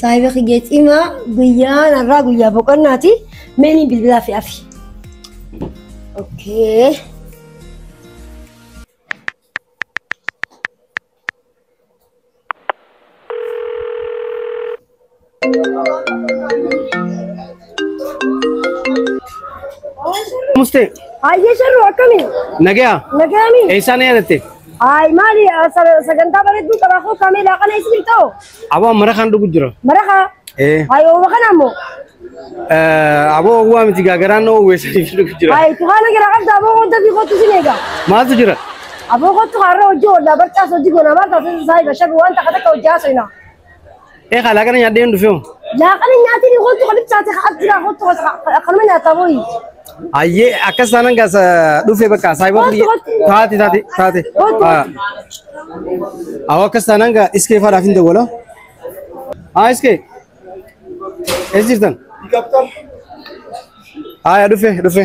Saayiba kiyya cimaa guyyaan har'aa guyyaa boqonnaati. Meeniin bilbilaa fi afi. Okkee. Mustee, Hayyee sharru akkami? nagaa, Nagaami? eessaan yaadatte? Haay maali sagantaa bareedduu qabaa koo kameelaa kana isin ta'u? Aboo mara kan dhugu jira. Maraqa Ee. ayooba kana ammoo eh, Aboo owwaa miti gaagaraan na owweessaniif dhugu jira. ay itti kaana jira qabda aboo kottu fi kottu sin eega. Maaltu jira? Aboo kottu kaarra hojii oolaa barcaas hojii goonaa maal taasisa isaa eega shabi waan takka takka hojii haasofna. Ee kaalaa kana nyaadhee hin dhufeewu. Laaqana nyaatiin kottu kan ibsaate ka as jira kottu akkanuma nyaataa booyi. Ayyee akkas taanan gaas dhufe bakka saayiba Kottu, kottu. taate taate taate. Kottu, Ah. Awwa akkas taanan gaa iskee faadhaaf hin dawwala. Haa iskee. Eessa jirtan? Haaya dhufe dhufe.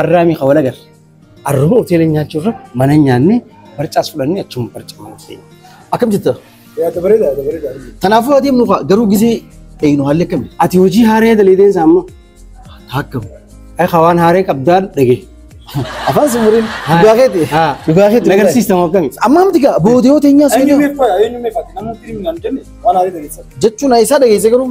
Arraamii ka wal agarre. Arruma hoteela nyaachuu irra mana nyaannee barcaas fudhannee achuma barcuma nuuf deema. Akkam jetta? Yaada bareeda yaada bareeda. Kanaafuu adeemnu kaa garuu gisee eegnu haalli akkami? Ati hojii haaree daleedeen isaa amma akkam? Ay ka waan haaree qabdaan dhagee. Afaan sumuriin dhugaa keeti. Dhugaa keeti. Nagarsiistamu akkami? Amma amti gaa boodee hoteenyaa Eenyu seenaa. meefa eenyu meefa namni fiilmi naan jenne waan haarii dhageessa. Jechuun isaa dhageesse garuu.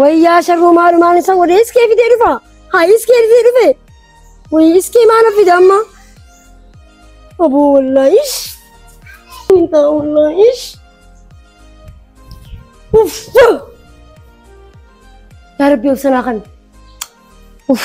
Wayyaa sharruu maalumaan isa godhe iskee fidee dhufa. Haa iskee fidee dhufe. Wayii iskee maana fida amma. Aboo wallaa ish. Mintaa wallaa ish. Uff. Yaa rabbi obsanaa kana. Uff.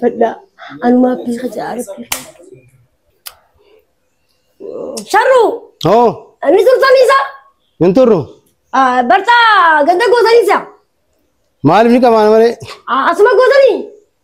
Fadhaa anumaa abbii kajaa arabbii. Sharruu Hoo ani turtanii isaa hin turru bartaa ganda gootanii isaa maaliif ni qabaana malee asuma gootanii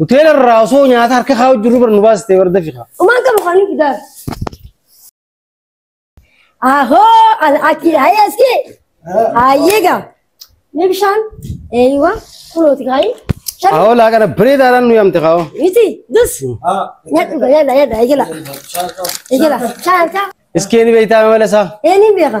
Hoteela irraa osoo nyaata harka kaa'u jirru bara nu baasite warda fiqa. Dhumaan qabu kan hin fidaan. Ahoo al'aakii ayee askee. Ayee gaa. Mee bishaan eeyiwa kunooti kaayii. Shan Kaa'oo laa kana bareedaadhaan nu yaamte kaa'oo. miti dus. Nyaadhu gaa nyaadha nyaadha eegala. Eegala shaan harkaa. Iskee ni beektaa mala isaa. Ee ni beeka.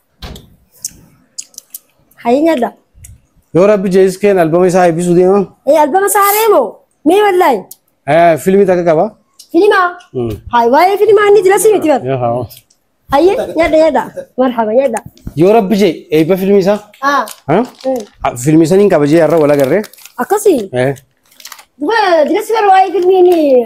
Hayii nyadha. Yoo rabbi jees keen albama isaa eebbisuu deema. Ee albama saaree moo? Mee wallahi. Eh, Fiilmii takka qaba. Filimaa. Mm. Hayi waa'ee filimaa inni jira si miti bar. Yoo haa. Hayii nyadha nyadha. Marhaba nyadha. Yoo rabbi jee eebba fiilmii isaa. Ah. Ha? mm. Ah, Fiilmii saniin qaba jee har'a wal agarree. Akkasii. Eh. Duba jira si bar waa'ee filmii inni.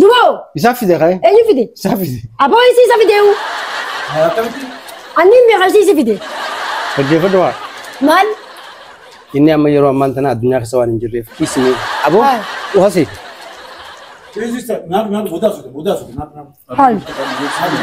Duboo! Isaa fide ka'e. Eenyu fide? Isaa fide. Aboo isii isa fideewu. Akkamitti? Anni hin beekan isii isa fide. Dhaggeeffadhu haa. Maal? Inni amma yeroo ammaan tana addunyaa keessa waan hin jirreef kiisni aboo Haa. uhase. Register. Naaf naaf mudaa fide mudaa fide naaf naaf. Haal. Naaf.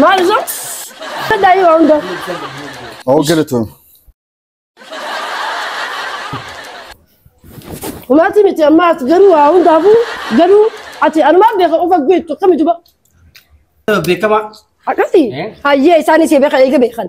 Maal osoo? Saddaa yoo hunda. Oo galatoom. Umaati miti amma ati garuu waa hundaafuu garuu ati anumaan beeka of agguu jettu akkami duba. Beekamaa. Akkasi. Eh? Hayyee isaanis beekan eega beekan.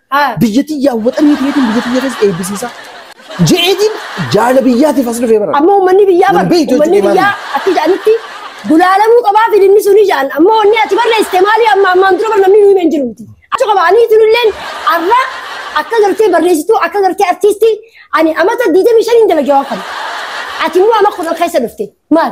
Haa. Biyya tiyyaa waxanii keetiin biyya tiyya keessa eebbisiisa. Je'eetiin jaala biyyaatiif as dhufee bara. Amma uummanni biyyaa bar Lambii uummanni jechuun biyyaa akka jedhanitti gulaalamuu qabaa filimni suni jedhan amma wanni ati barreessite maali amma ammaan dura bar namni nuyi hin jiru miti achi qaba ani tun illeen arra akka gartee barreessituu akka gartee artiistii ani amata 25 hin dalagee waan kana ati immoo amma kudhan keessa dhufte maal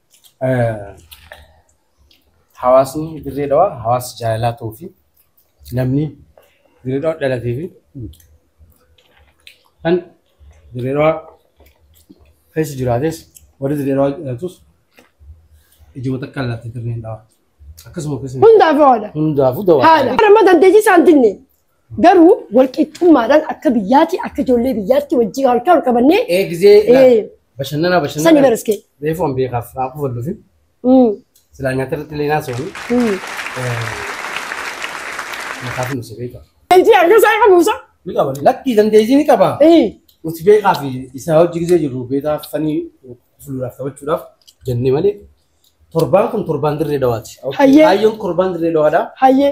Hawaasni dirree dhawaa hawaasa jaalalaa ta'uu fi namni dirree dhawaa dhalatee fi kan dirree dhawaa keessa jiraates warri dirree dhawaa dhalatus ijuma takka laatti dirreen dhawaa akkasuma keessatti Hundaaf haadha. hundaafuu dawaa Haadha. Ramadan teessisaan dinne. Garuu walqixxummaadhaan akka biyyaati akka ijoollee biyyaatti wajjin harkaa ol qabannee Ee gizee Ee. bashannanaa sani bashannanaa. baraskee. Reefu an beekaaf haa kufalluufi. Mm, Silaa nyaata irratti illee naasawani. mm. Nyaataaf nu si beeka. Ejii harka isaa eega muusa. Ni qaba. Lakkii dandeettii ni qaba. Ee, Nuti beekaa fi isaa hojji gizee jirru beekaa fanii fuulduraaf taphachuudhaaf jennee malee torbaan kun torbaan dirree dawaati. Hayyee. Kaayyoon torbaan dirree dawaadha. hayyee.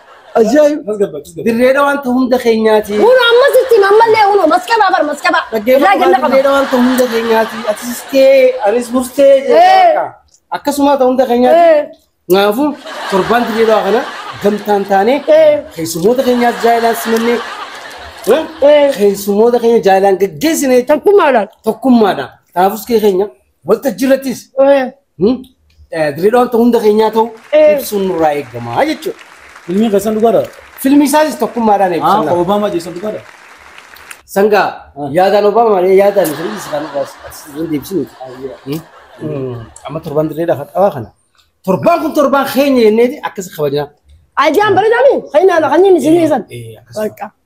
Ajaa'iba! Dirree dhawaan ta'u hunda keenyaati. Uno ammas itti hima ammallee uno maskabaa bar maskabaa. Irraa kenna Dhaggeeffatu qaba. dirree dhawaan ta'u hunda keenyaati. Atis tee, anis murtee Eh. jedhee akkasuma ta'u hunda keenyaati. Eh. Kanaafuu torbaan dirree dhawaa kana gamtaan taanee Eh. keessummoota keenyaas jaalaan simannee eh, Eh. keessummoota keenya jaalaan gaggeessine Takkumaadhaan. tokkummaadha. Kanaafus kee keenya Waltajjii irrattis Dirreedhaan hunda keenyaa ta'u ibsuun nurraa eegama jechuudha. Filmii keessan dhugaadha. Filmii isaanis tokkummaadhaan Haa eebbisama. Obaamaa jeessan dhugaadha. Sangaa yaadaan Obama malee yaadaan Isiraalis isaan irraa hin deebisinu. Amma torbaan dirreedhaaf hadhaawaa kana. Torbaan kun torbaan keenya jenneeti akkas kabajnaa. Aidiyaan bareedaami. Kan inni kan inni isin dhiyeessan. Bakka.